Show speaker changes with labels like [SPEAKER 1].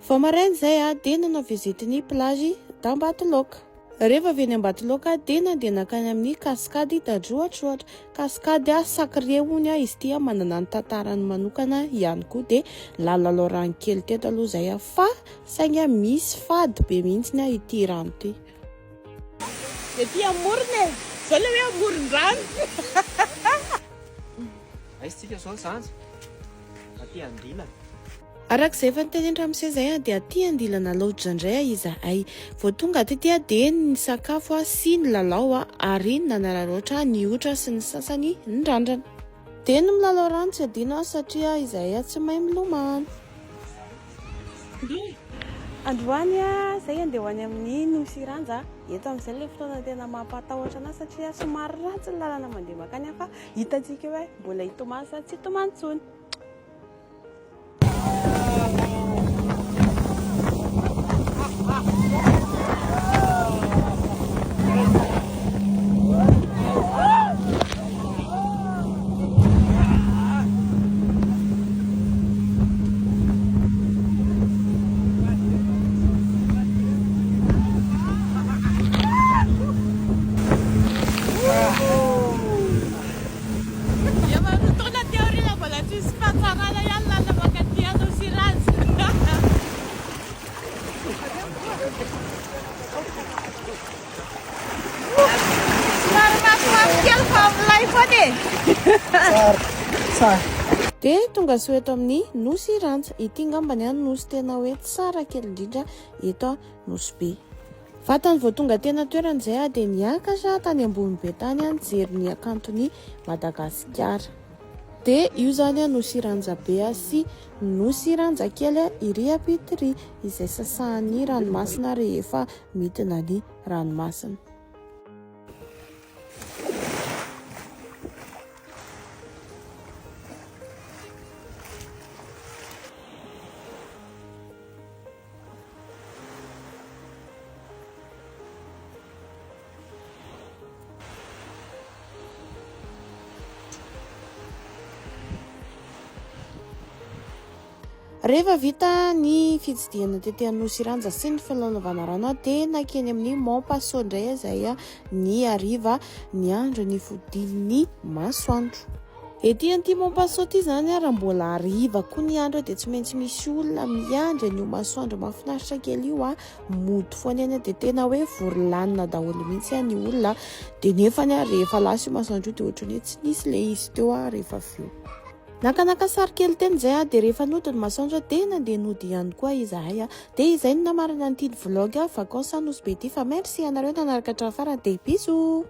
[SPEAKER 1] Vao maraina izay aho dia nanao visite ny plage d'Ambatoloaka. Rehefa avy eny Ambatoloaka aho dia nandeha nankany amin'ny cascade d'Androatroatra. Cascade sacrée hono izy ity, manana ny tantarany manokana ihany koa. Dia nalalao rano kely teto aloha izay aho fa saingy misy fady be mihitsy ity rano ity. Ety amorony e! Izao ilay hoe amoron-drano. Aiza isika izao Zandry? aty andilana. Araka izay efa nitenenitra amin'izay izay dia aty andilana loatra indray izahay. Vao tonga aty dia dia nisakafo sy nilalao ary nanararaotra ny otra sy ny sasany nirandrana. Dia ny milalao rano tsy adino satria izahay tsy mahay milomano. Androany izay dia ho any amin'ny Nosy Iranja. Eto amin'izay ilay fotoana tena mampatahotra anahy satria somary ratsy ny lalana mandeha mankany fa Hitantsika eo hoe mbola hitomany sa tsy hitomany intsony. Efa roa taona aty aoriana mbola tsy nisy fahatsarana ihany lalana mankaty anao sy Randja. De tongasoa eto amin'ny nosy Randja. Ity ngambany an nosy tena hoe tsara kely indrindra eto nosy be. Vatany vao tonga teny an-toerana izay aho dia niakatra tany ambony be tany nijery ny hakanton'i Madagasikara. Dia io izany Nosy Ranjabe sy Nosy Ranjakely iry ampita iry izay sasahan'ny ranomasina rehefa midina ny ranomasina. Rehefa vita ny fitsidihana tety Anosiranza sy ny filalaovana rano dia nakeny amin'ny Mont Passo indray izay ny hariva niandry ny fodian'ny masoandro. Ety Antimon-paso ety izany ary raha mbola hariva koa ny andro dia tsy maintsy misy olona miandry an'io masoandro mahafinaritra kely io ah. Mody foana eny dia tena hoe vory lanina daholo mihitsy ah ny olona. Dia nefa ny ah rehefa lasa io masoandro io dia ohatran'ny hoe tsy nisy ilay izy teo ah rehefa avy eo. Nakanaka sary kely teny izay ah dia rehefa nody ny masoandro ah dia nandeha nody ihany koa izahay ah. Dia izay no namarana an'itiny vlog ah vacances à Nosy Be ity fa merci ianareo nanaraka hatramin'ny farany dia bisous.